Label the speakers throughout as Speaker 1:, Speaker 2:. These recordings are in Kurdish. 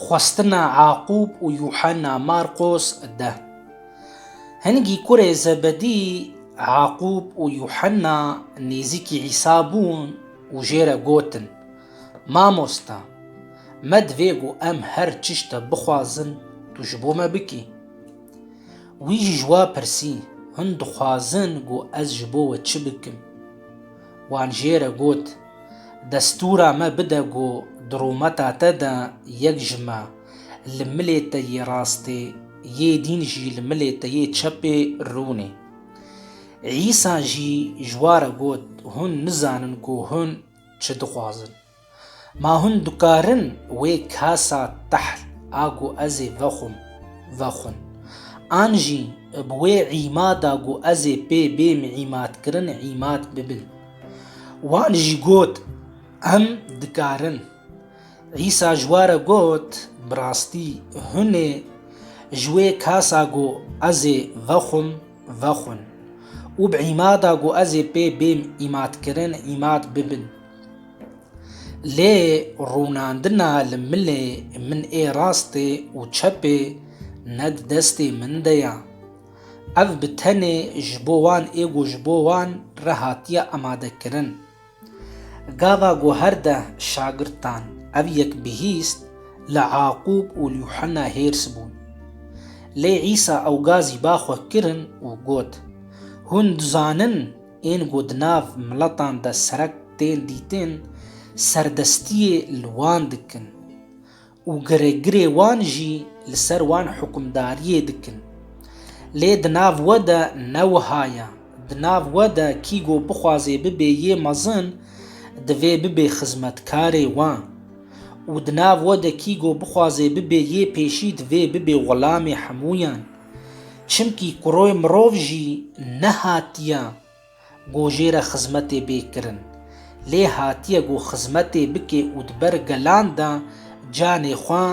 Speaker 1: Xwestina Yaqûb û Yuhena Marqos de. Hingî kurê Zebedî Yaqûb û Yuhena nêzîkî Îsa bûn û jê re gotin, Mamosta, me divê ku em her çişte bixwazin tu ji bo me bikî. Wî jî ji we pirsî, Hûn dixwazin ku ez ji bo we çi bikim? Wan jê re got, Destûra me bide ku di rûmeta te de yek ji me li milê te yê rastê, yê dîn jî li milê te yê çepê rûnê. Îsa jî ji wa re got, Hûn nizanin ku hûn çi dixwazin. Ma hûn dikarin wê kasa tehl a ku ez ê vexwim, vexwin? An jî bi wê îmada ku ez ê pê bêm îmadkirin îmad bibin? Wan jî got, Em dikarin. Îsa ji we re got, Bi rastî hûn ê ji wê kasa ku ez ê vexwim, vexwin û bi îmada ku ez ê pê bêm îmadkirin, îmad bibin. Lê rûnandina li milê min ê rastê û çepê ne di destê min de ye. Ev bi tenê ji bo wan ê ku ji bo wan re hatiye amadekirin. Gava ku her deh şagirdan ev yek bihîst li Aqub û Yuhena hêrs bûn. Lê Îsa ew gazî ba xwe kirin û got, Hûn dizanin ên ku di nav miletan de serek tên dîtin, serdestiyê li wan dikin. û giregirê wan jî li ser wan hukimdariyê dikin. Lê di nav we de ne wiha ye. Di nav we de kî ku bixwazê bibê yê mezin, divê bibê xizmetkarê wan. Û di nav we de kî ku bixwazê bibê yê pêşî divê bibê xulamê hemûyan. Çimkî kuroy mirov jî nehatiye. Ku jê re xizmetê bê kirin. Lê hatiye ku xizmetê bike û di ber gelan de canê xwe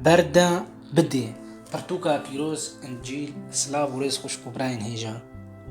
Speaker 1: ber de bide. Pirtûka pîroz, Încîl, silav û rêz xwişk û birayên hêja.